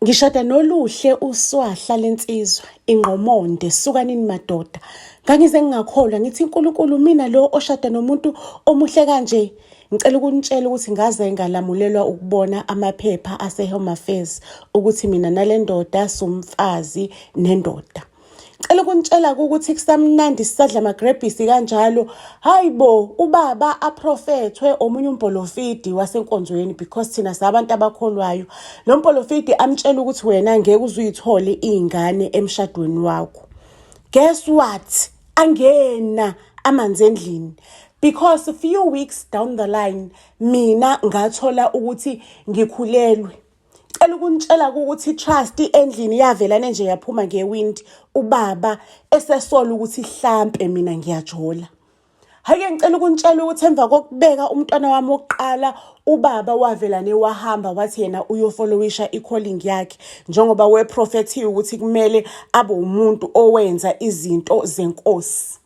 Ngishada noluhle uswahla lensizwa ingqomonde sukanini madoda ngangize ngingakholwa ngithi uNkulunkulu mina lo oshada nomuntu omuhle kanje ngicela ukunitshela ukuthi ngaze ngalamulelwa ukubona amaphepha aseHome Affairs ukuthi mina nale ndoda sumfazi nendoda cela ukunitshela ukuthi kusamnandi sisadla amagrebhisi kanjalo hayi bo ubaba aprofethwe omunye umpolofidi wasenkonzweni because thina sabantu abakholwayo lo mpolofidi amtshela ukuthi wena ngeke uzuyithole iy'ngane emshadweni wakho guess what angena amanzi endlini because few weeks down the line mina ngathola ukuthi ngikhulelwe Cela ukunitshela ukuthi i-trust endlini yavelane nje yaphuma ngewindi ubaba esesola ukuthi hlampe mina ngiyajola. Hhayi-ke ngicela ukunitshela ukuthi emva kokubeka umntwana wami wokuqala ubaba wavelane wahamba wathi yena uyofolowisha i-calling yakhe njengoba weprofethiwe ukuthi kumele abe umuntu owenza izinto zenkosi.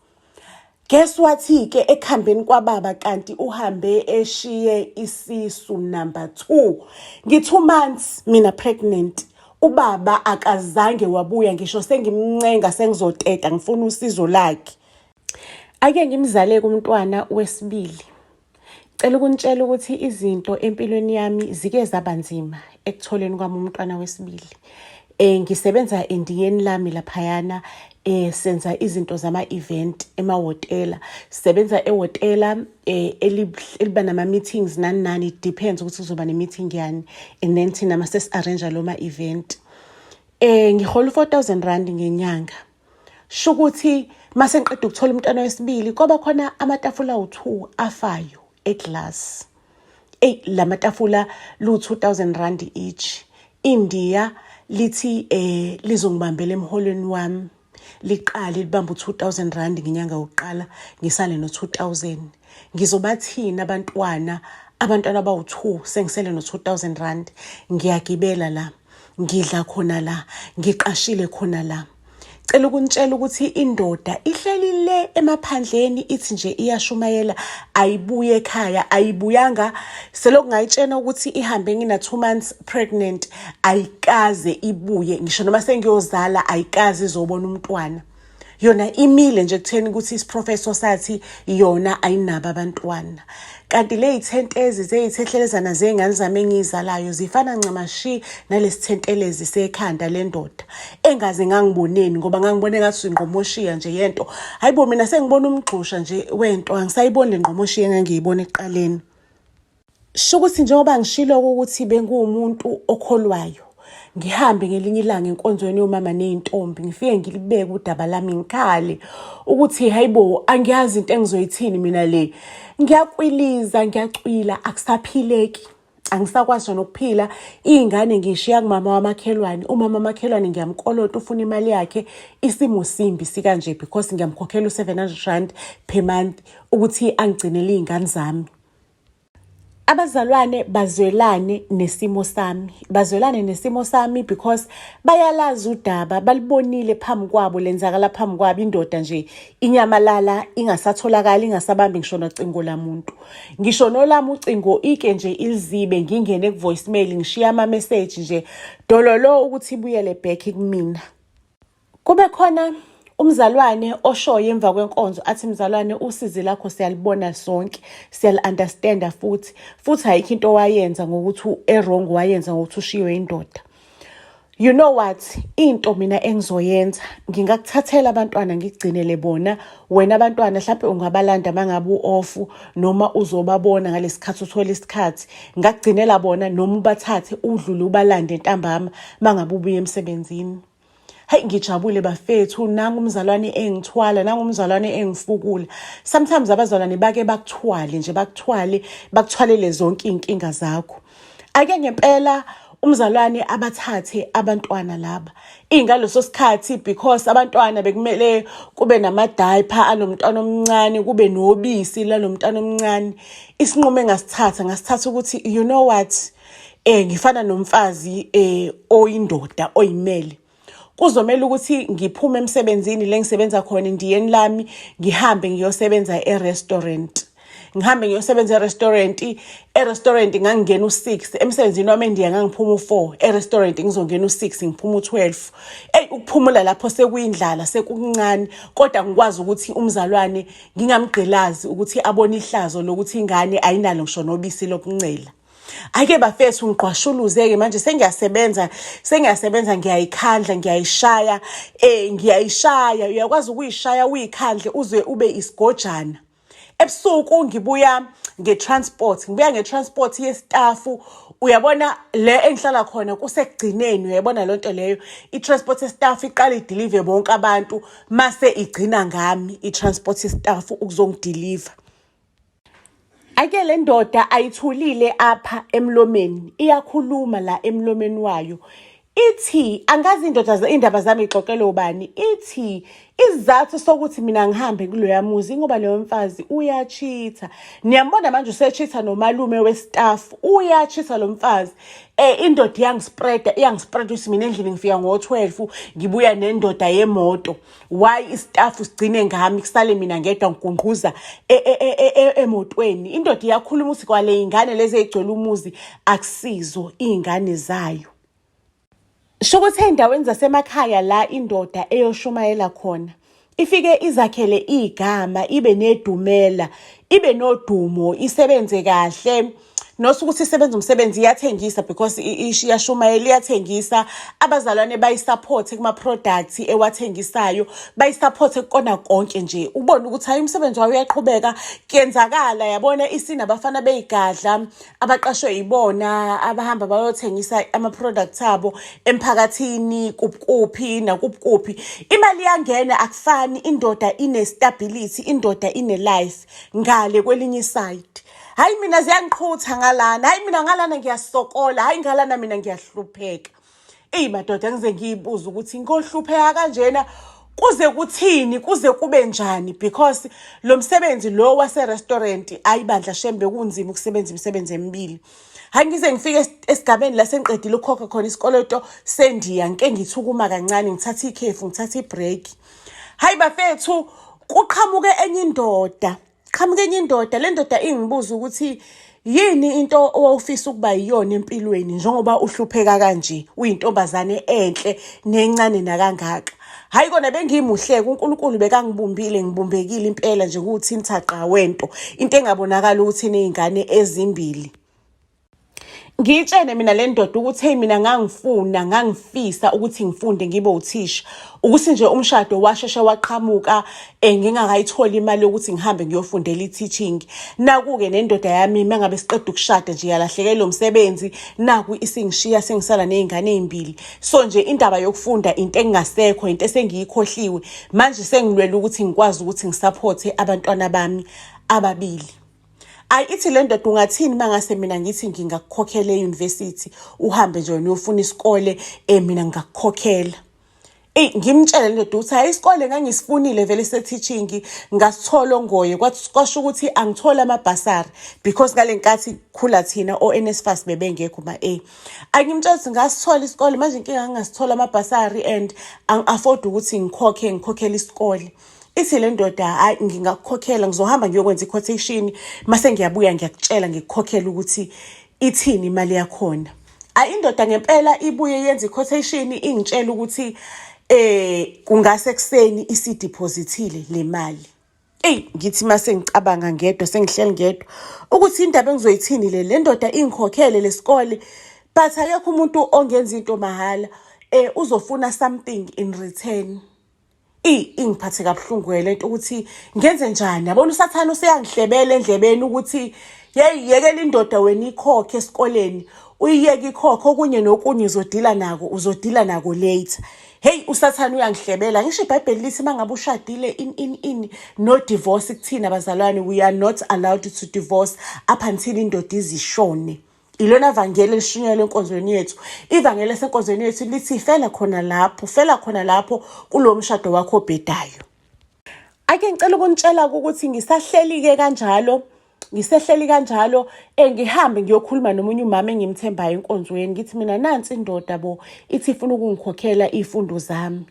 Guess wathi-ke ekuhambeni kwababa kanti uhambe eshiye isisu number two ngi-two months mina pregnant ubaba akazange wabuya ngisho sengimncenga sengizoteta ngifuna usizo lakhe ake ngimzaleke umntwana wesibili Cela ukunitshela ukuthi izinto empilweni yami zike zaba nzima ekutholeni kwami umntwana wesibili. Eh ngisebenza endiyeni lami laphayana eh senza izinto zama event emahotela. Sisebenza ehotela eh eliba nama meetings nani nani it depends ukuthi kuzoba ne meeting yani and then thina mase arrange lo ma event. Eh ngihola 4000 rand ngenyanga. shukuthi mase ngiqeda ukuthola umntwana wesibili kwaba khona amatafula awu-two afayo eglass eyi la matafula lu-two thousand rand each indiya lithi eh lizongibambela emholweni wami liqale libambe u-two thousand rand ngenyanga yokuqala ngisale no-two thousand ngizobathini abantwana abantwana abawu-two sengisele no-two thousand rand ngiyagibela la ngidla khona la ngiqashile khona la cela ukunitshela ukuthi indoda ihleli le emaphandleni ithi nje iyashumayela ayibuye ekhaya ayibuyanga selokhu ngayitshena ukuthi ihambe ngina two months pregnant ayikaze ibuye ngisho noma sengiyozala ayikaze izobona umntwana yona imile nje kutheni ukuthi isiprofeso sathi yona ayinabo abantwana kanti ley'thentezi zey'thethelezana zey'ngane zami engiyizalayo zifana ncamashi nalesithentelezi sekhanda lendoda engaze ngangiboneni ngoba ngangibone ngathi ingqomoshiya nje yento hayibo mina sengibona umgxusha nje wento angisayiboni le ngqomoshiya engangiyibona ekuqaleni Shukuthi njengoba ngishilo ukuthi benguwumuntu okholwayo ngihambe ngelinye ilanga enkonzweni yomama nezintombi ngifike ngilibeke udaba lami ngikhale ukuthi hayibo angiyazi into engizoyithini mina le ngiyakwiliza ngiyacwila akusaphileki angisakwazi nokuphila iy'ngane ngishiya kumama wamakhelwane umama wamakhelwane ngiyamkolota ufuna imali yakhe isimo simbi sikanje because ngiyamkhokhela u-seven hundred rand per month ukuthi angigcinele iy'ngane zami abazalwane bazwelane nesimo sami bazwelane nesimo sami because bayalazi udaba balibonile phambi kwabo lenzakala phambi kwabo indoda nje inyamalala ingasatholakali ingasabambi ngisho nocingo lamuntu ngisho nolami ucingo ike nje ilizibe ngingene ku-voicemail ngishiya ama-message nje dololo ukuthi ibuyele back kumina Kube khona umzalwane oshoyo emva kwenkonzo athi mzalwane usizi lakho siyalibona sonke siyali-understanda futhi futhi ayikho into owayenza ngokuthi erong wayenza ngokuthi ushiywe indoda you know what into mina engizoyenza ngingakuthathela abantwana ngigcinele bona wena abantwana mhlawumbe ungabalanda mangabe uofu noma uzobabona ngalesikhathi uthola isikhathi ngakugcinela bona noma ubathathe udlule ubalande ntambama mangabe ubuye emsebenzini Hey ngijabule bafethu nangu umzalwane engithwala nangu umzalwane engifukula sometimes abazalwane bake bakuthwale nje bakuthwale bakuthwalele zonke izinkinga zakho ake ngempela umzalwane abathathe abantwana laba ingaleso sikhathi because abantwana bekumele kube namadiaper anomntwana omncane kube nobisi lalomntwana omncane isinqumo engasithatha ngasithatha ukuthi you know what eh ngifana nomfazi eh oyindoda oyimele kuzomela ukuthi ngiphume emsebenzini lengisebenza khona ndiyeni lami ngihambe ngiyosebenza e-restaurant ngihambe ngiyosebenza e-restaurant e-restaurant ngangingena u-six emsebenzini wami endiya ngangiphuma u-four e-restaurant ngizongena u-six ngiphuma u-twelve eyi ukuphumula lapho sekuyindlala sekukuncane kodwa ngikwazi ukuthi umzalwane ngingamgqilazi ukuthi abone ihlazo lokuthi ingane ayinalo ngisho nobisi lokuncela Ake bafethu ngiqwashuluze-ke manje sengiyasebenza sengiyasebenza ngiyayikhandla ngiyayishaya um ngiyayishaya uyakwazi ukuyishaya uyikhandle uze ube isigojana ebusuku ngibuya nge-transport ngibuya nge-transport yesitafu uyabona le engihlala khona kusekugcineni uyayibona loo nto leyo i-transport yesitafu iqala idilive bonke abantu mase igcina ngami i-transport yesitafu ukuzongidiliva Ake le ndoda ayithulile apha emlomeni iyakhuluma la emlomeni wayo ithi angazi indoda iy'ndaba zami ixoxele ubani ithi isizathu sokuthi mina ngihambe kuloya muzi ngoba loyo mfazi uyachitha niyambona manje usechitha nomalume westaff uyachitha lo mfazi um indoda iyangispreda iyangispreda ukuthi mina endlini ngifika ngo-twelve ngibuya nendoda yemoto why istafu sigcine ngami kusale mina ngedwa ngigungquza e, e, e, emotweni indoda iyakhuluma ukuthi kwale iy'ngane lezi ey'gcwele umuzi akusizo iy'ngane zayo sho ukuthi ey'ndaweni zasemakhaya la indoda eyoshumayela khona ifike izakhele igama ibe nedumela ibe nodumo isebenze kahle not ukuthi isebenza umsebenzi iyathengisa because iyashumayela iyathengisa abazalwane bayisupport kuma-products ewathengisayo bayisupport kukona konke nje ubone ukuthi hayi umsebenzi wayo uyaqhubeka kuyenzakala yabona isini abafana beyigadla abaqashwe yibona abahamba bayothengisa ama-products abo emphakathini kuphi nakuphi imali iyangena akufani indoda ine-stability indoda ine-life ngale kwelinye isayidi hayi mina ziyangiqhutha ngalana hayi mina ngalana ngiyasokola hayi ngalana mina ngiyahlupheka eyi madoda ngize ngiyibuza ukuthi ngohlupheka kanjena kuze kuthini kuze kube njani because lo msebenzi lo waserestaurant ayibandla shembe kunzima ukusebenza imisebenzi emibili hayi ngize ngifike esigabeni la sengiqedile ukukhokha khona isikoloto sendiya ngike ngithukuma kancane ngithatha ikhefu ngithatha ibreak hayi bafethu kuqhamuke enye indoda qhamuka enye indoda le ndoda ingibuza ukuthi yini into owawufisa ukuba yiyona empilweni njengoba uhlupheka kanje uyintombazane enhle nencane nakangaka hayi kona bengimuhleke uNkulunkulu bekangibumbile ngibumbekile impela nje kuwuthintha qha wento into engabonakala ukuthi nezingane ezimbili ngiyitshene mina le ndoda ukuthi hey mina ngangifuna ngangifisa ukuthi ngifunde ngibe uthisha ukuthi nje umshado washeshe waqhamuka eh, ngingakayitholi imali yokuthi ngihambe ngiyofundela i-teaching naku-ke nendoda yami uma ngabe siqeda ukushada nje yalahlekela lo msebenzi naku isingishiya sengisala ney'ngane ey'mbili so nje indaba yokufunda into engingasekho into esengiyikhohliwe manje sengilwela ukuthi ngikwazi ukuthi ngisaphothe abantwana bami ababili ayi ithi le ndoda ungathini uma ngase mina ngithi ngingakukhokhela eyunivesithi uhambe nje wena uyofuna isikole um mina ngingakukhokhela eyi ngimtshele le ndoda ukuthi hhayi isikole ngangisifunile vele se-teaching ngasithola ongoye kwasho ukuthi angithole amabhasari because ngale nkathi khula thina o-nsfas bebengekho ma-a angimtshela ukuthi ngasithola isikole manje inkinga ngingasithola amabhasari and angi-afodi ukuthi ngikhokhe ngikhokhele isikole ithi le ndoda hayi ngingakukhokhela ngizohamba ngiyokwenza i-quotation mase ngiyabuya ngiyakutshela ngikukhokhela ukuthi ithini imali yakhona ayi indoda ngempela ibuye yenza i-quotation ingitshela ukuthi eh kungase kuseni isidepositile le mali Ey ngithi mase ngicabanga ngedwa sengihleli ngedwa ukuthi indaba engizoyithini le le ndoda ingikhokhele lesikole but akekho umuntu ongenza into mahhala eh uzofuna something in return Ey ingiphathe kabuhlungu ke lento ukuthi ngenze njani yabona usathana useyangihlebela endlebeni ukuthi yeyi yekela indoda wena ikhokhe esikoleni uyiyeke ikhokhe okunye nokunye uzodila nako uzodila nako later heyi usathane uyangihlebela ngisho ibhayibheli lithi uma ngabe ushadile in in in no divorce kuthina bazalwane we are not allowed to divorce up until indoda izishone Ilona vangeli elishunyayelwa enkonzweni yethu. Ivangeli esenkonzweni yethu lithi fela khona lapho, fela khona lapho kulo mshado wakho obhedayo. Ake ngicela ukunitshela ukuthi ngisahleli-ke kanjalo ngisehleli kanjalo eh, ngihambe ngiyokhuluma nomunye umama engimthembayo enkonzweni ngithi mina nansi indoda bo ithi ifuna ukungikhokhela iy'fundo zami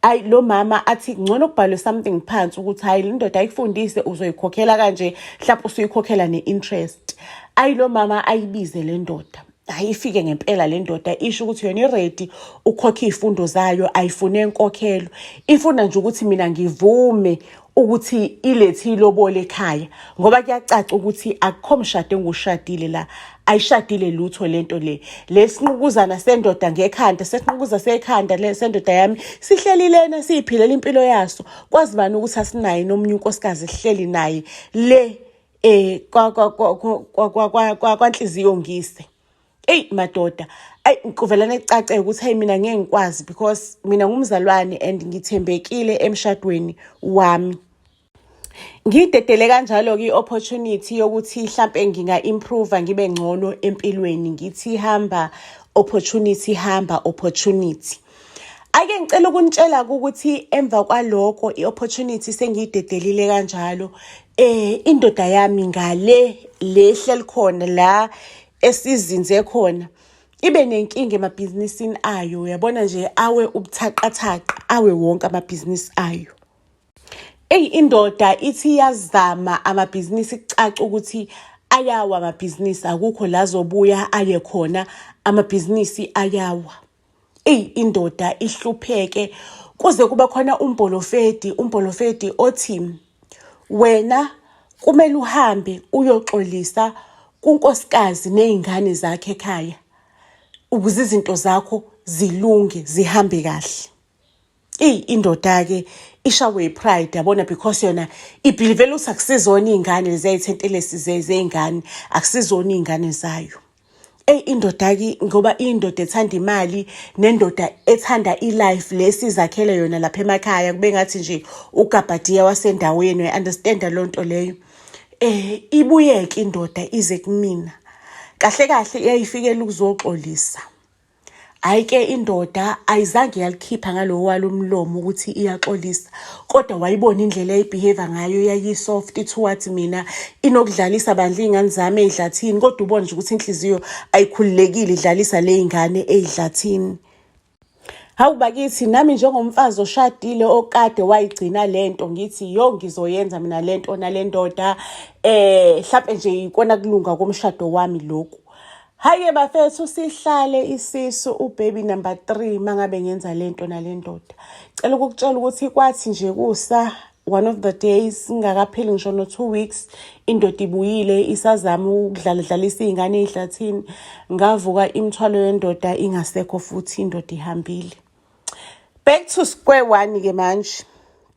ayi lo mama athi ngcono kubhalwe something phansi ukuthi hayi le ndoda ayikufundise uzoyikhokhela kanje mhlawumbe usuyikhokhela ne-interest ayi lo mama ayibize le ndoda hayi ifike ngempela le ndoda isho ukuthi yona iredi ukhokhe iy'fundo zayo ayifune enkokhelo ifuna nje ukuthi mina ngivume ukuthi ilethi ilobole ekhaya ngoba kuyacaca ukuthi akukho mshado engushadile la ayishadile lutho lento le lesinqukuzana sendoda ngekhanda sesinqukuza sekhanda le sendoda yami sihleli lena siyiphilela impilo yaso kwazi bani ukuthi asinaye nomunye unkosikazi sihleli naye le eh kwa kwa kwa kwa kwa kwa kwa kwanhliziyo ngise eyi madoda ayi kuvelane kucace ukuthi hayi mina ngeke ngikwazi because mina ngumzalwane and ngithembekile emshadweni wami ngidedele kanjalo-ke i-opportunity yokuthi hlampe nginga-improva ngibe ngcono empilweni ngithi hamba opportunity hamba opportunity ake ngicela ukunitshela ukuthi emva kwaloko i-opportunity sengiyidedelile kanjalo eh indoda yami ngale lehle likhona la esizinze khona ibe nenkinga emabhizinisini ayo uyabona nje awe ubuthaqathaqa awe wonke amabhizinisi ayo eyi indoda ithi yazama amabhizinisi kucaca ukuthi ayawa amabhizinisi akukho la zobuya aye khona amabhizinisi ayawa eyi indoda ihlupheke kuze kuba khona umbholofedi umbholofedi othi wena kumele uhambe uyoxolisa kunkosikazi nezingane zakhe ekhaya ukuze izinto zakho zilunge zihambe kahle eyi indoda-ke ishawe yi-pride yabona because yona ibhilivele ukuthi akusizona iy'ngane leziyayithentelesi zey'ngane akusizona iy'ngane zayo eyi indoda-ke ngoba indoda ethanda imali nendoda ethanda i-life le sizakhele yona lapha emakhaya kube ngathi nje ugabhadiya wasendaweni uyi-understanda loo nto leyo um ibuyeke indoda ize kumina kahle kahle iyayifikela ukuzoxolisa Hhayi ke indoda ayizange yalikhipha ngalowo walo mlomo ukuthi iyaxolisa kodwa wayibona indlela eyibehave ngayo yayisoft ithi wathi mina inokudlalisa bandla iy'ngane zami ey'dlathini kodwa ubone nje ukuthi inhliziyo ayikhululekile idlalisa le y'ngane ey'dlathini Hawu bakithi nami njengomfazi oshadile okade wayigcina lento ngithi yo ngizoyenza mina lento nalendoda eh mhlambe nje ikona kulunga komshado wami lokhu Hayi bafethu sihlale isisu ubaby number 3 mangabe ngenza lento nalendoda. Cela ukukutshela ukuthi kwathi nje kusa one of the days ngakapheli ngisho no two weeks indoda ibuyile isazama ukudlala dlalisa izingane ezihlathini ngavuka imthwalo yendoda ingasekho futhi indoda ihambile back to square one ke manje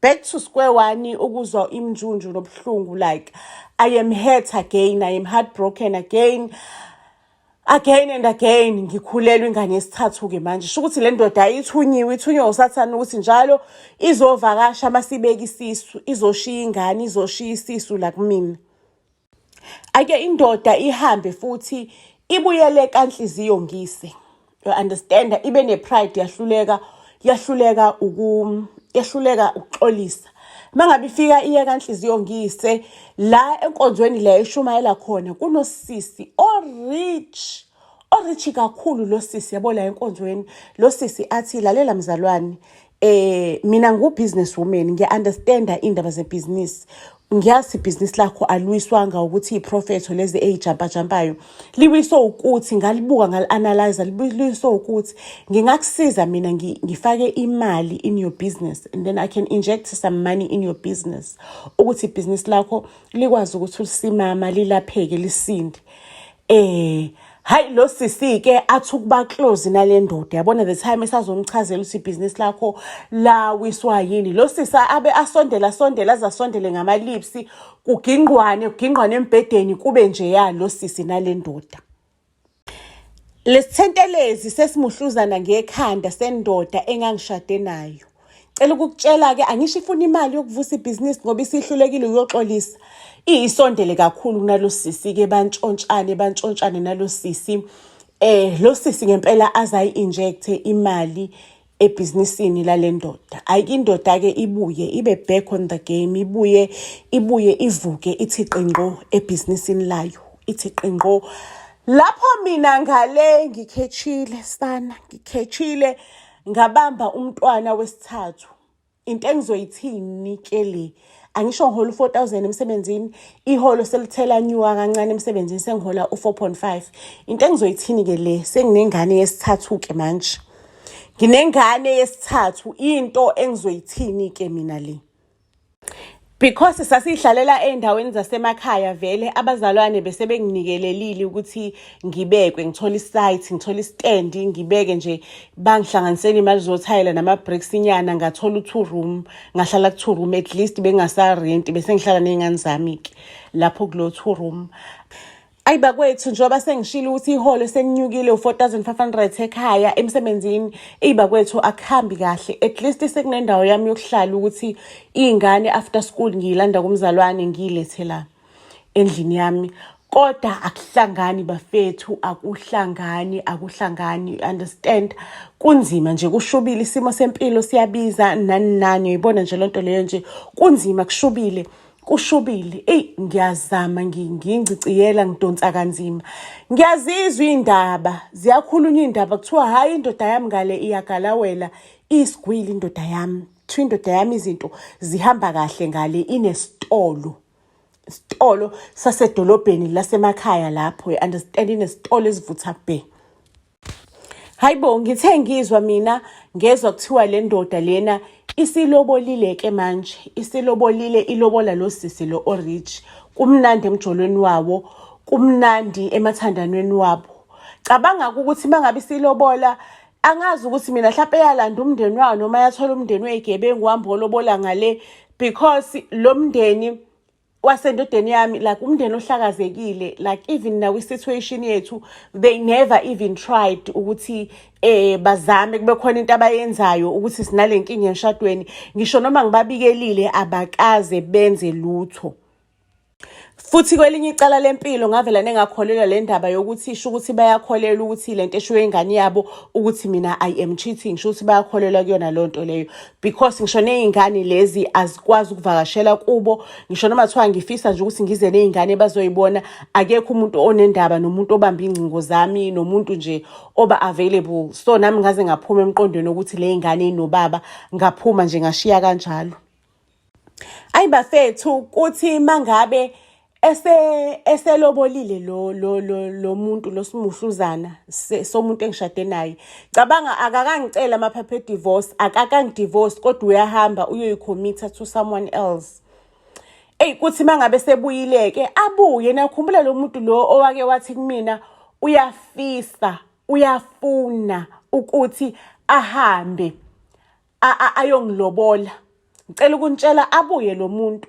back to square one ukuzwa imnjunju nobuhlungu like i am hurt again i am heartbroken again again and again ngikhulelwe ingane yesithathu ke manje sho ukuthi le ndoda ayithunyiwe ithunywe usathane ukuthi njalo izovakasha masibeka isisu izoshiya ingane izoshiya isisu la kumina ake indoda ihambe futhi ibuyele kanhliziyo ngise you understand ibe ne pride yahluleka yahluleka uku yahluleka ukuxolisa mangabe ifika iye kanhliziyo ngise la enkonzweni le eshumayela khona kunosisi o rich orichi kakhulu lo sisi yabo la enkonzweni lo sisi athi lalela mzalwane eh mina ngu business woman ngiya understanda indaba ze business ngiyazi ibhizinisi lakho alwiswanga ukuthi iprofetho lezi eyijampajampayo liwiswe ukuthi ngalibuka ngalianalyza liwiswe ukuthi ngingakusiza mina ngifake imali in your business and then i can inject some money in your business ukuthi ibhizinisi lakho likwazi ukuthi ulisimama lilapheke lisinde Eh Hayi lo sisi ke athi ukuba close nale ndoda yabona the time esazomchazela ukuthi business lakho la wiswa yini lo sisi abe asondela sondela azasondele ngama lips kugingqwane kugingqwane embedeni kube nje ya lo sisi nale ndoda lesithentelezi sesimuhluzana ngekhanda sendoda engangishade nayo cela ukukutshela-ke angisho ifuna imali yokuvusa ibhizinisi ngoba isihlulekile uyoxolisa iyisondele kakhulu kunalo sisi-ke bantshontshane bantshontshane nalo sisi eh lo sisi ngempela azayi-injecthe imali ebhizinisini lale ndoda ayike indoda-ke ibuye ibe back on the game ibuye ibuye ivuke ithi qingqo ebhizinisini layo ithi qingqo lapho mina ngale ngikhetshile sana ngikhetshile ngabamba umntwana wesithathu into engizoyithini ke le angisho ngihola u-four thousand emsebenzini iholo selithela nyuka kancane emsebenzini sengihola u-four point five into engizoyithini ke le senginengane yesithathu-ke manje nginengane yesithathu into engizoyithini-ke mina le because sasihlalela ezindaweni zasemakhaya vele abazalwane bese benginikelelile ukuthi ngibekwe ngithole isite ngithole istand ngibeke nje bangihlanganisele imali zothayela nama bricks inyana ngathola u2 room ngahlala ku2 room at least bengasa rent bese ngihlala nezingane zami ke lapho kulo 2 room ayi bakwethu njengoba sengishilo ukuthi iholo selinyukile u-4500 ekhaya emsebenzini eyi bakwethu akuhambi kahle at least sekunendawo yami yokuhlala ukuthi iy'ngane after school ngiyilanda kumzalwane ngiyilethe la endlini yami kodwa akuhlangani bafethu akuhlangani akuhlangani you understand kunzima nje kushubile isimo sempilo siyabiza nani nani uyibona nje lento leyo nje kunzima kushubile kushubile eyi ngiyazama ngingiciyela ngidonsa kanzima ngiyazizwa iy'ndaba ziyakhulunywa iy'ndaba kuthiwa hhayi indoda yami ngale iyagalawela iyisigwili indoda yami kuthiwa indoda yami izinto zihamba kahle ngale inesitolo isitolo sasedolobheni lasemakhaya lapho i-understand inesitolo esivutha bhe hayi bo ngithe ngizwa mina ngezwa kuthiwa le ndoda lena isilobolile-ke manje isilobolile ilobola lo sisi lo orich kumnandi emjolweni wawo kumnandi emathandanweni wabo cabanga-ke ukuthi uma ngabe isilobola angazi ukuthi mina mhlawumpe eyalanda umndeni wawo noma yathola umndeni weyigebengu wambe olobola ngale because lo mndeni wasendodeni yami like umndeni ohlakazekile like even nawe situation yethu they never even tried ukuthi eh bazame kube khona into abayenzayo ukuthi sinale nkinga emshadweni ngisho noma ngibabikelile abakaze benze lutho futhi kwelinye icala lempilo ngavela nengakholelwa le ndaba yokuthi isho ukuthi bayakholelwa ukuthi le nto eshiwo ingane yabo ukuthi mina i am cheating sho ukuthi bayakholelwa kuyona loo nto leyo because ngisho ney'ngane lezi azikwazi ukuvakashela kubo ngisho noma kuthiwa ngifisa nje ukuthi ngize ney'ngane bazoyibona akekho umuntu onendaba nomuntu obamba iy'ngcingo zami nomuntu nje oba available so nami ngaze ngaphuma emqondweni wokuthi le y'ngane inobaba ngaphuma nje ngashiya kanjalo Ayi bafethu kuthi mangabe ese eselobolile lo lo lo lo muntu losimuhluzana somuntu engishade naye cabanga akakangicela amaphaphe divorce akakangidivorce kodwa uyahamba uyoyikhomitha to someone else eyi kuthi mangabe sebuyileke abuye nakhumbula lo muntu lo owake wathi kumina uyafisa uyafuna ukuthi ahambe ayongilobola ngicela ukuntshela abuye lo muntu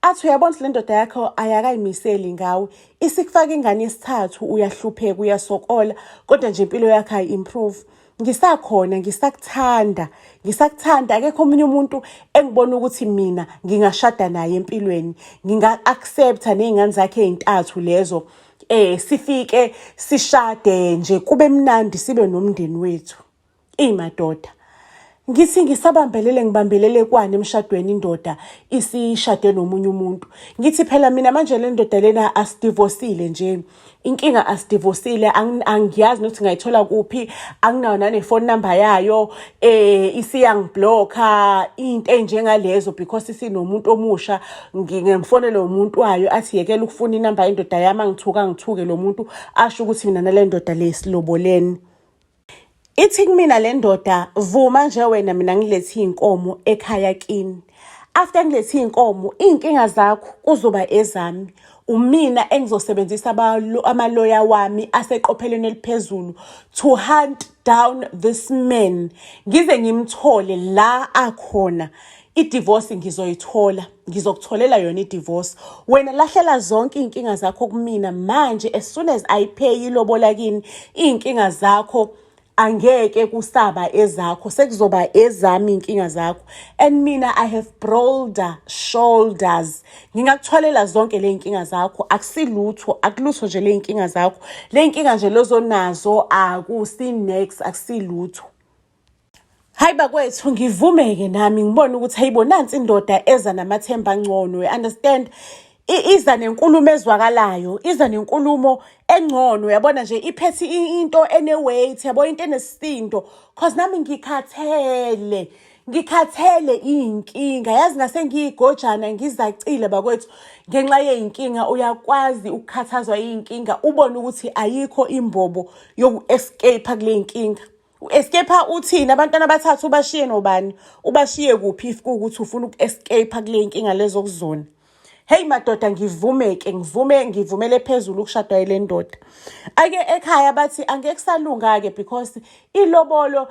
athi uyabona ukuthi le ndoda yakho ayakayimiseli ngawe isikufaka ingane yesithathu uyahlupheka uyasokola kodwa nje impilo yakho ayi-improve ngisakhona ngisakuthanda ngisakuthanda akekho omunye umuntu engibona ukuthi mina ngingashada naye empilweni nginga-accepta ney'ngane zakhe ey'ntathu lezo eh sifike sishade nje kube mnandi sibe nomndeni wethu Ey madoda. Ngithi ngisabambelele ngibambelele kwani emshadweni indoda isishade nomunye umuntu. Ngithi phela mina manje le ndoda lena asidivosile nje. Inkinga asidivosile angiyazi nokuthi ngayithola kuphi anginayo nane phone number yayo eh isiyangiblocka into enjengalezo because isinomuntu omusha ngingemfonela umuntu wayo athi yekela ukufuna inamba yendoda yami angithuka ngithuke lo muntu asho ukuthi mina nale ndoda lesiloboleni. Ithi kumina le ndoda vuma nje wena mina ngilethe iy'nkomo ekhaya kini. After ngilethe iy'nkomo iy'nkinga zakho kuzoba ezami. Umina engizosebenzisa amaloya wami aseqophelweni eliphezulu to hunt down this man ngize ngimthole la akhona. idivorce ngizoyithola ngizokutholela yona idivorce wena lahlela zonke iy'nkinga zakho kumina manje as soon as ayipheyi ilobola kini iy'nkinga zakho angeke kusaba ezakho sekuzoba ezami iy'nkinga zakho and mina i have broader shoulders ngingakuthwalela zonke le y'nkinga zakho akusilutho akulutho nje le y'nkinga zakho le y'nkinga nje lozonazo akusi-nex akusilutho hayi bakwethu ngivumeke nami ngibone ukuthi hayibo nansi indoda eza namathemba angcono you understand iza nenkulumo ezwakalayo iza nenkulumo engcono yabona nje iphethe into ene-weight yabo into enesisindo cause nami ngikhathele ngikhathele iy'nkinga yazi ngase ngiyigojana ngizacile bakwethu ngenxa yey'nkinga uyakwazi ukukhathazwa iy'nkinga ubone ukuthi ayikho imbobo yoku-escape-a kule y'nkinga U-escape uthini abantwana abathathu ubashiye nobani ubashiye kuphi if kuwukuthi ufuna uku-escape kule nkinga lezokuzona heyi madoda ngivume-ke ngivume ngivumele phezulu ukushadwa yile ndoda ake ekhaya bathi angeke kusalunga-ke because ilobolo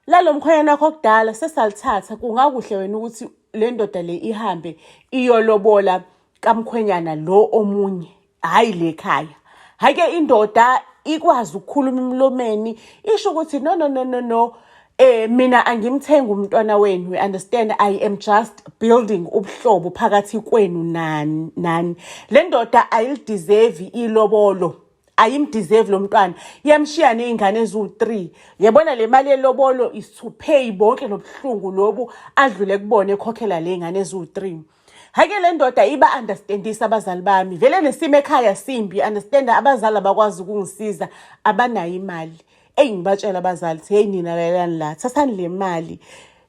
lalo mkhwenyana wakho kudala sesalithatha kungakuhle wena ukuthi le ndoda le ihambe iyolobola kamkhwenyana lo omunye hhayi le khaya hhayi ke indoda ikwazi ukukhuluma emlomeni isho ukuthi no no no no no eh mina angimthengi umntwana wenu we understand i am just building ubuhlobo phakathi kwenu nani nani le ndoda ayilideserve ilobolo ayimdeserve lo mntwana yamshiya nezingane eziwu-3 yabona le mali yelobolo is to pay bonke lobuhlungu lobu adlule kubona ekhokhela le ngane eziwu-3 Hake le ndoda iba understandisa abazali bami vele nesimo ekhaya simbi understand abazali abakwazi ukungisiza abanayo imali eyi ngibatshela abazali hey nina lalelani la thathani le mali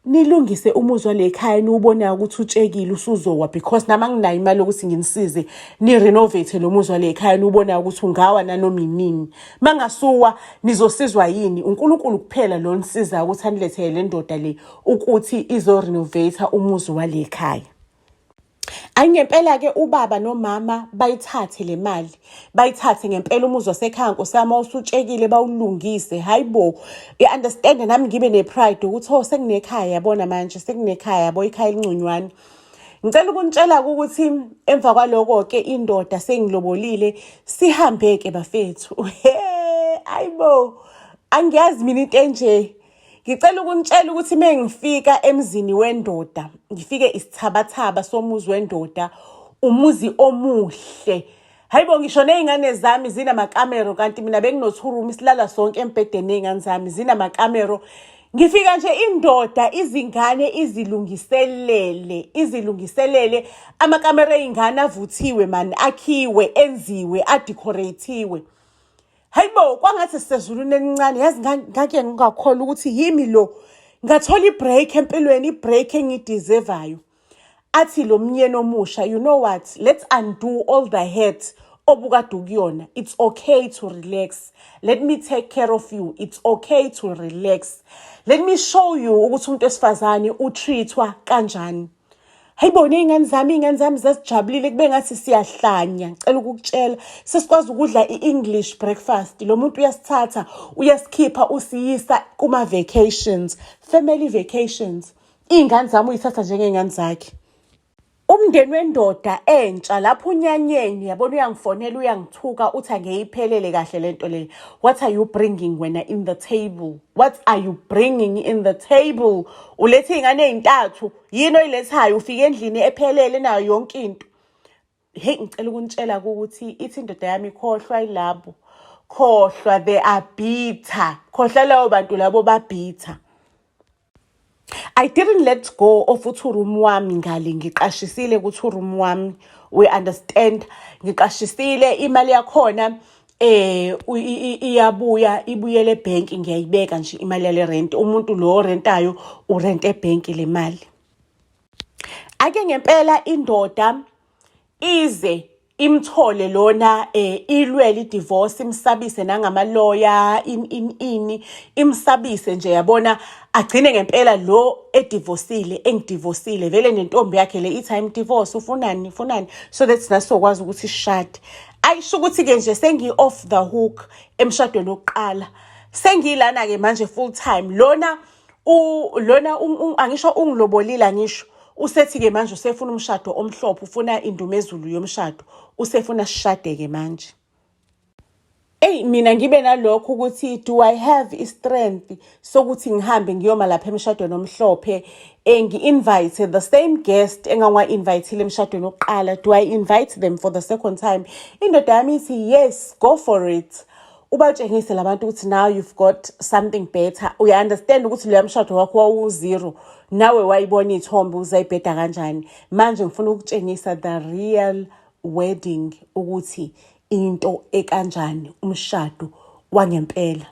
nilungise umuzwa lekhaya niwubonayo ukuthi utshekile usuzowa because nama nginayo imali yokuthi nginisize ni-renovate lo muzwa lekhaya niwubonayo ukuthi ungawa nanoma inini mangasuwa nizosizwa yini unkulunkulu kuphela lo nisizayo ukuthi anilethele le ndoda le ukuthi izo-renovator umuzi wale khaya ayi ngempela-ke ubaba nomama bayithathe le mali bayithathe ngempela umuzi wasekhaya nkosiyama usutshekile bawulungise hhayi bo i-understande nami ngibe ne-pride ukuthi o oh, sekunekhaya yabona manje sekunekhaya yabo ikhaya elinconywana ngicela ukunitshela-ke ukuthi emva kwaloko-ke indoda sengilobolile sihambe-ke bafethu he ayi bo angiyazi mina into enje ngicela ukunitshela ukuthi uma ngifika emzini wendoda ngifike isithabathaba somuzi wendoda umuzi omuhle hayi bo ngisho ney'ngane zami zinamakamero kanti mina benginothurumi silala sonke embhedeni ney'ngane zami zinamakamero ngifika nje indoda izingane izilungiselele izilungiselele amakamera ey'ngane avuthiwe mani akhiwe enziwe adecorathiwe hayibo kwangathi sisezulwini elincane yazi ngake ngingakholwa ukuthi yimi lo ngathola ibreak empilweni ibreak engiyideservayo athi lo myeni omusha you know what let's undo all the hurt obukade ukuyona it's okay to relax let me take care of you it's okay to relax let me show you ukuthi umuntu wesifazane utreatwa kanjani Hayibona iy'ngane zami iy'ngane zami zazijabulile kube ngathi siyahlanya ngicela ukukutshela sesikwazi ukudla i-english breakfast lo muntu uyasithatha uyasikhipha usiyisa kuma-vacations family vacations iy'ngane zami uyithatha njengey'ngane zakhe umndeni wendoda entsha lapho unyanyeni yabona uyangifonela uyangithuka uthi angeyiphelele kahle le nto leyo what are you bringing wena in the table what are you bringing in the table ulethe iy'ngane ey'ntathu yini oyilethayo ufike endlini ephelele nayo yonke into heyi ngicela ukunitshela ukuthi ithi indoda yami ikhohlwa ilabo khohlwa they are bitter khohlwa labo bantu labo babhitter I didn't let go of uthi uroom wami ngale ngiqashisile ukuthi uroom wami we understand ngiqashisile imali yakhona eh iyabuya ibuyele ebank ngiyayibeka nje imali yale rent umuntu lo rentayo urent ebank le mali ake ngempela indoda ize imthole lona eh ilwele idivorce imsabise nangamaloya in in ini imsabise nje yabona agcine ngempela lo edivosile engidivosile vele nentombi yakhe le ithi I'm divorce ufunani ufunani so that's nasokwazi ukuthi shade ayisho ukuthi-ke nje sengi-off the hook emshadweni wokuqala sengiyilana-ke manje full time lona lona angisho ungilobolile angisho usethi-ke manje usefuna umshado omhlophe ufuna indumezulu yomshado usefuna sishade-ke manje eyi mina ngibe nalokho ukuthi do i have i-strength sokuthi ngihambe ngiyoma lapha emshadweni omhlophe engi-invite the same guest engangiwa-invayithile emshadweni wokuqala do i invite them for the second time indoda yami ithi yes go for it ubatshengise labantu ukuthi now you've got something better uya-understand ukuthi loya mshado wakho wawuzero nawe wayibona iy'thombe uzayibheda kanjani manje ngifuna ukutshengisa the real wedding ukuthi into ekanjani umshado wangempela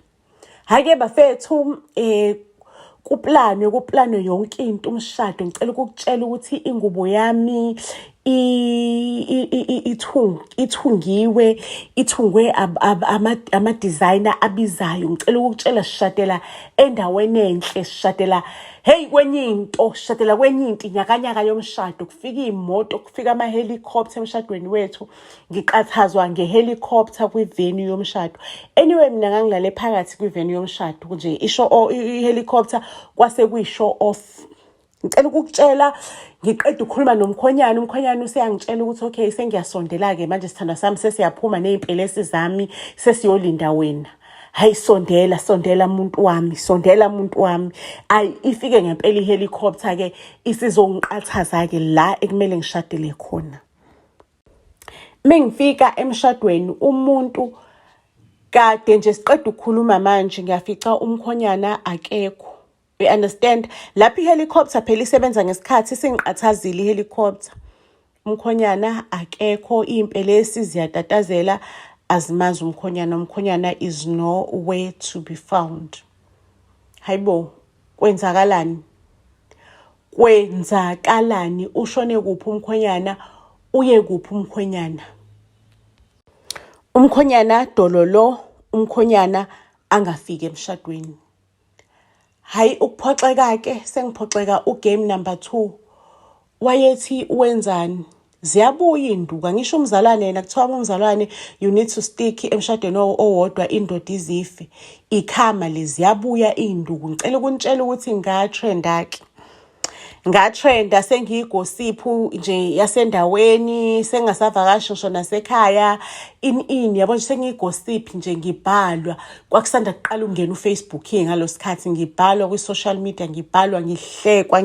Hake bafethu eh kuplanwe kuplanwe yonke into umshado ngicela ukukutshela ukuthi ingubo yami ithungiwe ithungwe ama-designer abizayo ngicela ukukutshela sishadela endaweni enhle sishadela heyi kwenye into sishadela kwenye into inyakanyaka yomshado kufika iy'moto kufika ama-helicopter emshadweni wethu ngiqathazwa ngehelicopter kwi-venue yomshado anyway mina ngangilale phakathi kwi-venue yomshado kunje isho i-helicopter kwase kuyi-show off ngicela ukukutshela ngiqeda ukukhuluma nomkhonyana umkhonyana useyangitshela ukuthi okay sengiyasondela-ke manje sithandwa sami sesiyaphuma ney'mpelesi zami sesiyolinda wena hayi sondela sondela muntu wami sondela muntu wami ayi ifike ngempela ihelicopter ke isizongiqathaza ke la ekumele ngishadele khona mengifika emshadweni umuntu kade nje siqeda ukukhuluma manje ngiyafica umkhonyana akekho you understand lapho ihelicopter phela isebenza ngesikhathi singiqathazile ihelicopter umkhonyana akekho iy'mpelesi ziyatatazela azimazi umkhonyana umkhonyana is nowhere to be found hayibo kwenzakalani kwenzakalani ushone kuphi umkhwenyana uye kuphi umkhwenyana umkhonyana dololo umkhonyana angafiki emshadweni hayi ukuphoxeka ke sengiphoxeka ugame number 2 wayethi wenzani ziyabuya induka ngisho umzalwane yena kuthiwa umzalwane you need to stick emshadweni owodwa indoda izife ikhama leziyabuya induku ngicela ukunitshela ukuthi ngatrendake ngatrenda sengiyigosiphu nje yasendaweni sengasavakashi ngisho nasekhaya in in yabo nje sengiyigosiphi nje ngibhalwa kwakusanda kuqala ukungena ufacebook ke ngalo sikhathi ngibhalwa kwi-social media ngibhalwa ngihlekwa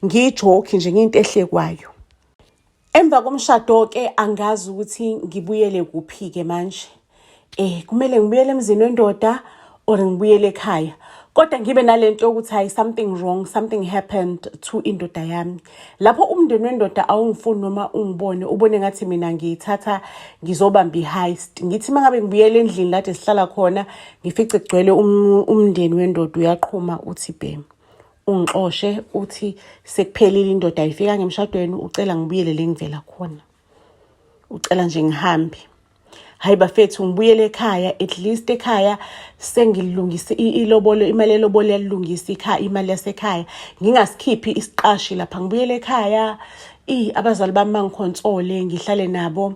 ngiyijoki nje ngiyinto ehlekwayo emva komshado-ke angazi ukuthi ngibuyele kuphi-ke manje um kumele ngibuyele emzini wendoda or ngibuyele ekhaya kodwa ngibe nale nto yokuthi hayi something wrong something happened to indoda yami lapho umndeni wendoda awungifuni noma ungibone ubone ngathi mina ngiyithatha ngizobamba i-heist ngithi uma ngabe ngibuyela endlini lade sihlala khona ngifice kugcwele um, umndeni wendoda uyaqhuma uthi bhemu ungixoshe uthi sekuphelile indoda ayifika ngemshadweni ucela ngibuyele le ngivela khona ucela nje ngihambe hayi bafethu ngibuyele ekhaya at least ekhaya sengilungise ilobolo imali elobolo yalilungisa ikhaya imali yasekhaya ngingasikhiphi isiqashi lapha ngibuyele ekhaya i abazali bami bangikhonsole ngihlale nabo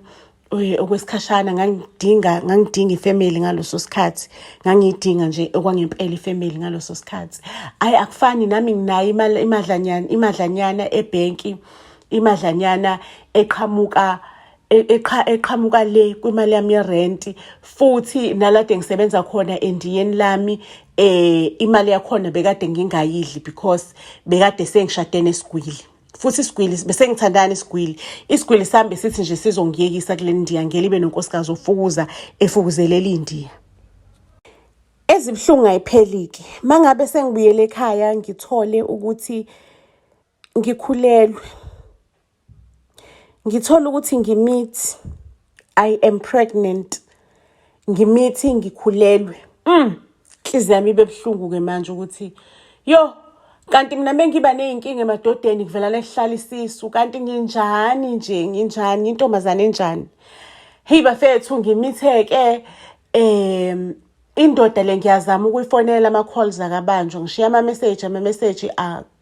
eh, okwesikhashana ngangidinga ngangidinga ifamily ngaloso sikhathi ngangiyidinga nje okwangempela ifamily ngaloso sikhathi ayi akufani nami nginayo imali imadlanyana imadlanyana ebhenki imadlanyana eqhamuka e-, eqha eqhamuka le kwimali yami yerenti futhi nalade ngisebenza khona endiyeni lami eh imali yakhona bekade ngingayidli because bekade sengishade nesigwili futhi isigwili bese ngithandana isigwili isigwili sambe sithi nje sizongiyekisa kule ndiya ngeke libe nonkosikazi ofukuza efukuzelela indiya ezibuhlungu ayiphelike mangabe sengibuyele ekhaya ngithole ukuthi ngikhulelwe ngithola ukuthi ngimithi i am pregnant ngimithi ngikhulelwe mm inhliziyo yami ibe buhlungu ke manje ukuthi yo kanti mina bengiba nezinkinga emadodeni kuvela lehlala isisu kanti nginjani nje nginjani intombazane enjani hey bafethu ngimitheke em indoda le ngiyazama ukuyifonela ama calls akabanjwa ngishiya ama message ama message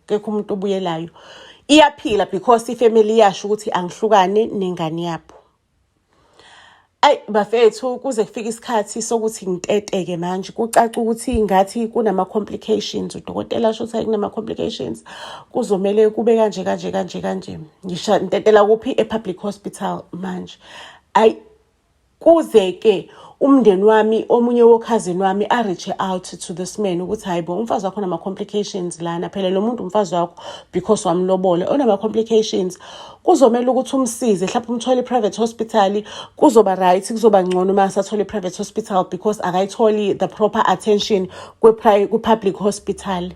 kekho umuntu obuyelayo iyaphila because ifamily iyasho ukuthi angihlukane nengane yabo ayi bafethu kuze kufike isikhathi sokuthi ngiteteke manje kucaca ukuthi ngathi kunama-complications udokotela asho ukuthi kunama-complications kuzomele kube kanje kanje kanje kanje ngisha ntetela kuphi e-public hospital manje ayi Kuze-ke umndeni wami omunye wokhazini wami a-reach-e out to this man ukuthi hhayi bo umfazi wakho onama-complications lana phela lo muntu umfazi wakho because wamlobola onama-complications kuzomele ukuthi umsize mhlawumpe umthole i-private hospital kuzoba right kuzoba ngcono uma asathole i-private hospital because akayitholi the proper attention kwi-public hospital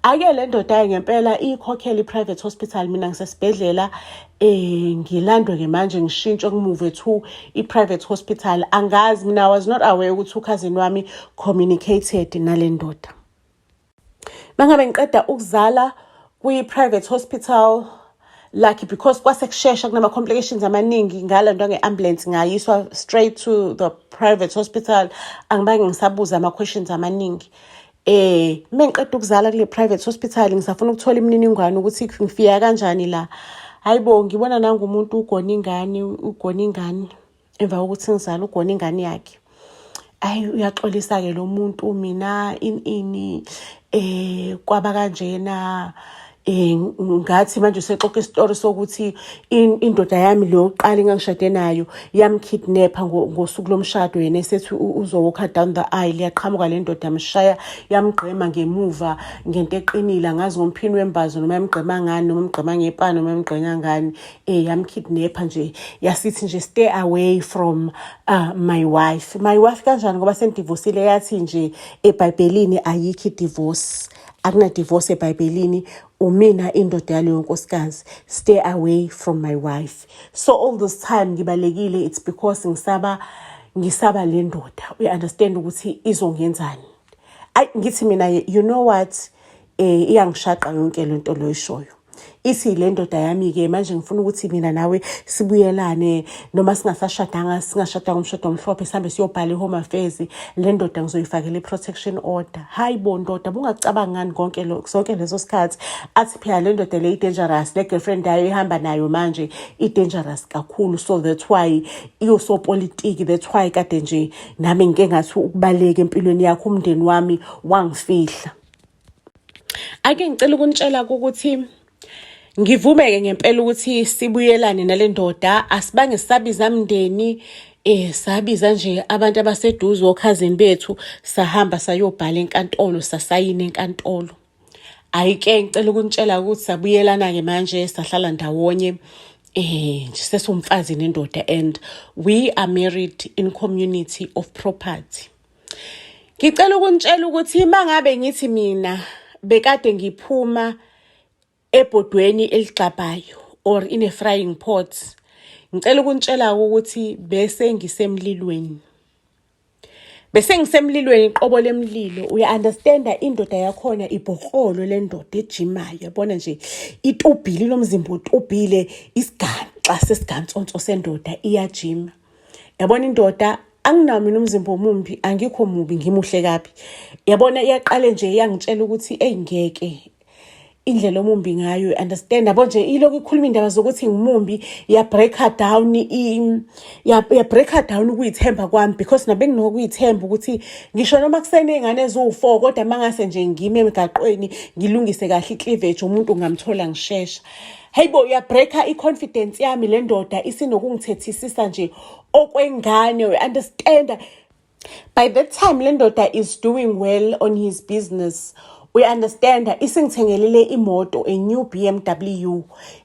ake le ndoda-ke ngempela iyikhokhele i-private hospital mina ngisesibhedlela eh ngilandwe ke manje ngishintshe kumove to i-private hospital angazi mina was not aware ukuthi ukhazini wami communicated nale ndoda mangabe ngiqeda ukuzala kwi-private hospital lucky because kwase kushesha kunama-complications amaningi ngala nto nge-ambulance ngayiswa straight to the private hospital angibange ngisabuza ama-questions amaningi Eh, uma ngiqeda ukuzala kule private hospital ngisafuna ukuthola imininingwane ukuthi ngifika kanjani la. Hayibo ngibona nangu umuntu ugona ingane, ugona ingane emva kokuthi ngizala ugona ingane yakhe. Ayi uyaxolisa ke lo muntu mina ini ini eh kwaba kanjena Eh, ngathi manje usexoxa isitori sokuthi indoda yami le yokuqala engangishade nayo yamkidnapha ngosuku lomshado yena esethi uzowokha down the aisle yaqhamuka le ndoda yamshaya yamgqema ngemuva ngento eqinile angazi ngomphini wembazo noma yamgqema ngani noma yamgqema ngepani noma yamgqenya ngani um yamkidnapha nje yasithi nje stay away from uh, my wife my wife kanjani ngoba sendivosile yathi nje ebhayibhelini ayikho idivorce akunadivorce ebhayibhelini umina indoda yaleyo nkosikazi stay away from my wife so all this time ngibalekile it's because ngisaba ngisaba le ndoda uyi-understand ukuthi izongenzani ayi ngithi mina you know what um iyangishaqa yonke le nto loyishoyo ithi le ndoda yami-ke manje ngifuna ukuthi mina nawe sibuyelane noma singasashadanga singashadanga umshado omhlophe sihambe siyobhala i-home affairs le ndoda ngizoyifakela i-protection order hayi bo ndoda bungacabangani konke sonke leso sikhathi athi phela le ndoda le i-dangerous le girlfriend yayo ihamba nayo manje i-dangerous kakhulu so that's why iyosopolitiki that's why kade nje nami ngike ngathi ukubaleka empilweni yakho umndeni wami wangifihla ake ngicela ukunitshela ukuthi ngivumeke ngempela ukuthi sibuyelane nale ndoda asibange sisabiza mndeni eh sabiza nje abantu abaseduze okhazini bethu sahamba sayobhala enkantolo sasayina enkantolo ayike ngicela ukunitshela ukuthi sabuyelana ke manje sahlala ndawonye eh nje sesumfazi nendoda and we are married in community of property Ngicela ukunitshela ukuthi uma ngabe ngithi mina bekade ngiphuma ebhodweni eligxabhayo or in a frying pot ngicela ukunitshela ukuthi bese ngisemlilweni bese ngisemlilweni iqobo lemlilo uya-understanda indoda yakhona ibhokrolo le ndoda ejimayo yabona nje itubhile lomzimba utubhile isigaxa sesigantsonso sendoda iyajima yabona indoda anginawo mina umzimba omumbi angikho mubi ngimuhle kabi yabona iyaqale nje iyangitshela ukuthi eyi ngeke indlela omumbi ngayo understand yabo nje ilokhu ikhuluma indaba zokuthi ngimumbi ya breaker down i ya breaker down ukuyithemba kwami because nabe nginokuyithemba ukuthi ngisho noma kusene ingane eziwu4 kodwa mangase nje ngime emgaqweni ngilungise kahle icleavage umuntu ngamthola ngishesha Hey bo uyabreaker i-confidence yami le ndoda isinokungithethisisa nje okwengane we understand by that time le ndoda is doing well on his business uyaunderstand isingithengelele imoto a new BMW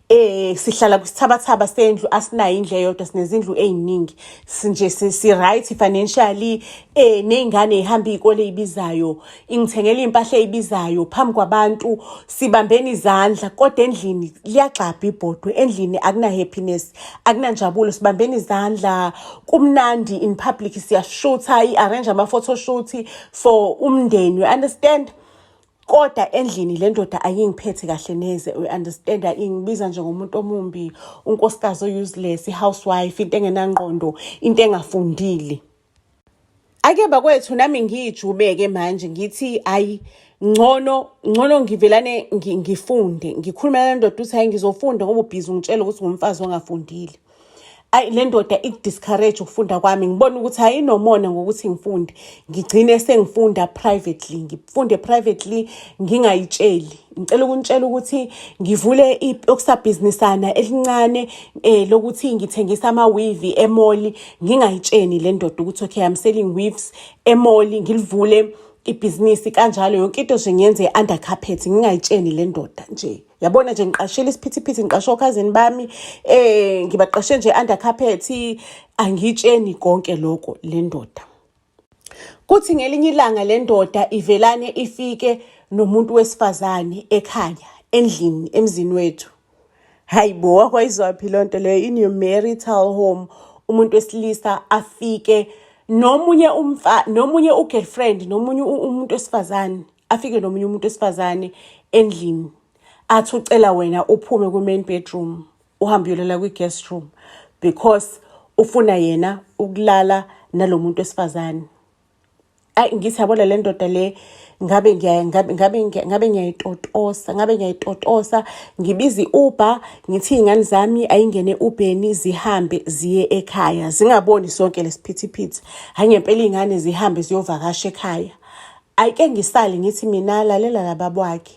eh sihlala kwisithabathaba sendlu asinayo indlu eyodwa sinezindlu eziningi sinje si right financially eh nezingane ihamba izikole ibizayo ingithengela iy'mpahla ey'bizayo phambi kwabantu sibambeni izandla kodwa endlini liyagxabha ibhodwe endlini akuna-happiness akunanjabulo sibambeni izandla kumnandi in public siyashutha i-arrange ama-photoshoot for umndeni you understand kodwa endlini le ndoda ayingiphethe kahle neze uyi-understand ingibiza njengomuntu omumbi unkosikazi o-useless i-housewife into engenangqondo into engafundile ake bakwethu nami ngiyijubeke manje ngithi ayi ngcono ngcono ngivelane ngifunde ngikhuluma le ndoda ukuthi hayi ngizofunda ngoba ubhizi ungitshela ukuthi ngumfazi ongafundile ayi le ndoda ikudiscourage ukufunda kwami ngibona ukuthi ayinomona ngokuthi ngifunde ngigcine sengifunda privately ngifunde privately ngingayitsheli ngicela ukunitshela ukuthi ngivule iyokusabhizinisana elincane eh lokuthi ngithengisa ama weave emoli ngingayitsheni le ndoda ukuthi okay i'm selling weaves emoli ngilivule ibhizinisi kanjalo yonke into nje ngiyenze under carpet ngingayitsheni le ndoda nje yabona nje ngiqashile isiphithiphithi ngiqashe okhazini bami eh ngibaqashe nje under carpet angitsheni konke lokho le ndoda Kuthi ngelinye ilanga le ndoda ivelane ifike nomuntu wesifazane ekhaya endlini emzini wethu. Hayi bo wakwayizwaphi loo nto leyo in your marital home umuntu wesilisa afike nomunye umfa nomunye ugirlfriend nomunye umuntu wesifazane afike nomunye umuntu wesifazane endlini athi ucela wena uphume ku-main bedroom uhambe uyolala kwi-guest room because ufuna yena ukulala nalo muntu wesifazane ayi ngithi yabona le ndoda le ngabe ngabe ngiyayitotosa ngabe ngiyayitotosa ngibiza i-uber ngithi iy'ngane zami ayingene ubheni zihambe ziye ekhaya zingaboni sonke lesiphithiphithi hhayi ngempela iy'ngane zihambe ziyovakasha ekhaya ayike ngisale ngithi mina lalela lababwakhe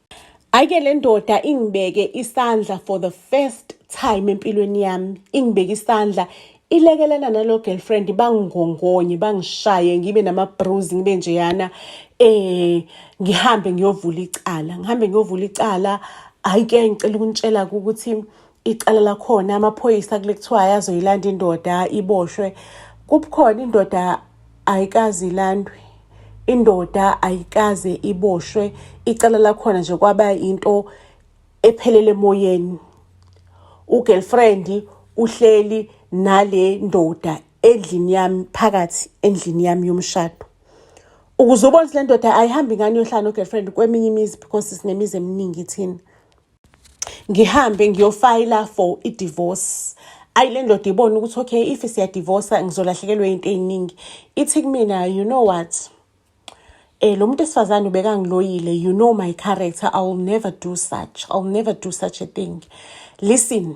Ayike le ndoda ingibeke isandla for the first time empilweni yami ingibeke isandla ilekelana nalo girlfriend bangingongonye bangishaye ngibe nama-bruise ngibe njeyana eh ngihambe ngiyovula icala ngihambe ngiyovula icala hhayi ke ngicela ukunitshela ukuthi icala lakhona amaphoyisa kule kuthiwa ayazoyilanda indoda iboshwe kubukhona indoda ayikazi ilandwe indoda ayikaze iboshwe icala lakhona nje kwaba into ephelele emoyeni ugirlfriend uhleli nale ndoda endlini yami phakathi endlini yami yomshado ukuze ubone le ndoda ayihambi ngani yohlala no-girlfriend kweminye imizi because sinemizi eminingi thina ngihambe ngiyofayila for i-divorce ayi le ndoda ibone ukuthi okay if siyadivosa ngizolahlekelwa into ey'ningi ithi kumina you know what eh lo muntu esifazane ubekangiloyile you know my character i will never do such i will never do such a thing listen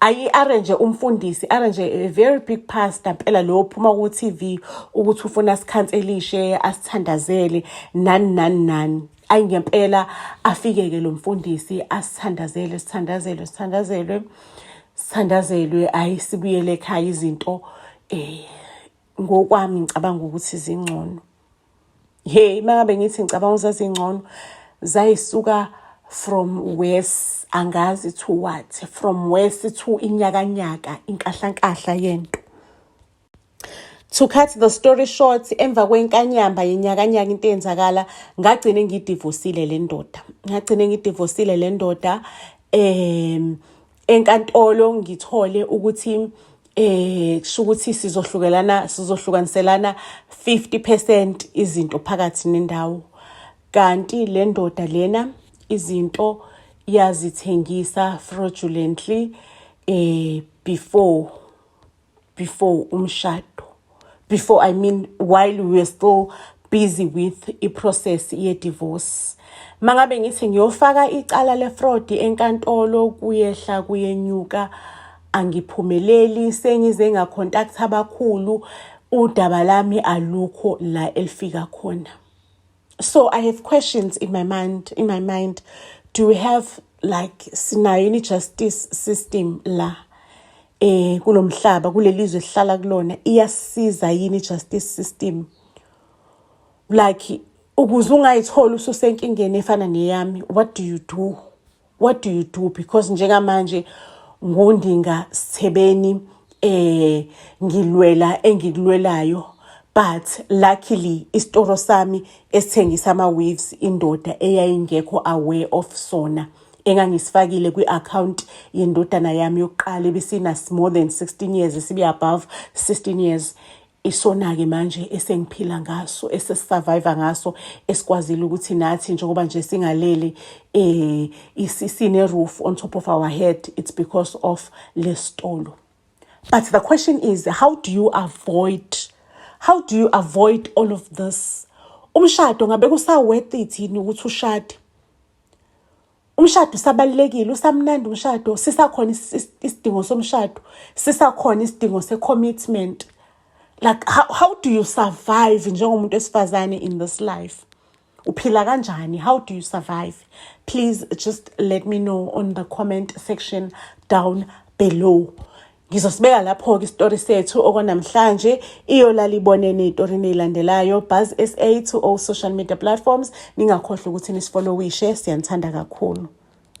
ayi-arrange umfundisi arrange a very big pastor mpela lo phuma ku-tv ukuthi ufuna sikhanselishe asithandazele nani nani nani ayi ngempela afike-ke lo mfundisi asithandazele sithandazelwe sithandazelwe sithandazelwe ayi sibuyele ekhaya izinto um ngokwami ngicabanga ukuthi zingcono Hey, mangabe ngithi ngicabanga uzazi ngcono zayisuka from west angazi to what from west to inyakanyaka inkahlankahla yento to cut the story short emva kwenkanyamba yenyakanyaka into eyenzakala ngagcine ngidivosile le ndoda ngagcine ngidivosile le ndoda um enkantolo ngithole ukuthi eh kusho ukuthi sizohlukelana sizohlukaniselana 50% izinto phakathi nendawo kanti le ndoda lena izinto yazithengisa fraudulently eh before before umshado before i mean while we were still busy with iprocess ye-divorce mangabe ngithi ngiyofaka icala lefraud enkantolo kuyehla kuyenyuka angiphumeleli sengize ngacontact abakhulu udaba lami alukho la elifika khona so i have questions in my mind in my mind do we have like sinayo ini justice system la eh kulomhlaba kulelizwe sihlala kulona iyasiza yini justice system like ukuze ungayitholi ususenkingeni efana neyami what do you do what do you do because njengamanje ngundinga sithebeni eh ngilwela engikulwelayo but luckily isitoro sami esithengisa ama waves indoda eyayingekho aware of sona engangisifakile kwi-account yendodana yami yokuqala ebisina more than 16 years sibe above 16 years isona-ke manje esengiphila ngaso esesisurvive ngaso esikwazile ukuthi nathi njengoba nje singalele eh sine-roof on top of our head it's because of lesitolo but the question is how do you avoid how do you avoid all of this umshado ngabe kusaworth it yini ukuthi ushade umshado usabalulekile usamnandi umshado sisakhona isidingo somshado sisakhona isidingo se-commitment like how, how do you survive njengomuntu wesifazane in this life uphila kanjani how do you survive please just let me know on the comment section down below Ngizosibeka lapho-ke isitori sethu okwanamhlanje iyolala ibonene etorini eyilandelayo buzz sa to all social media platforms ningakhohlwa ukuthi nisifolowishe siyanithanda kakhulu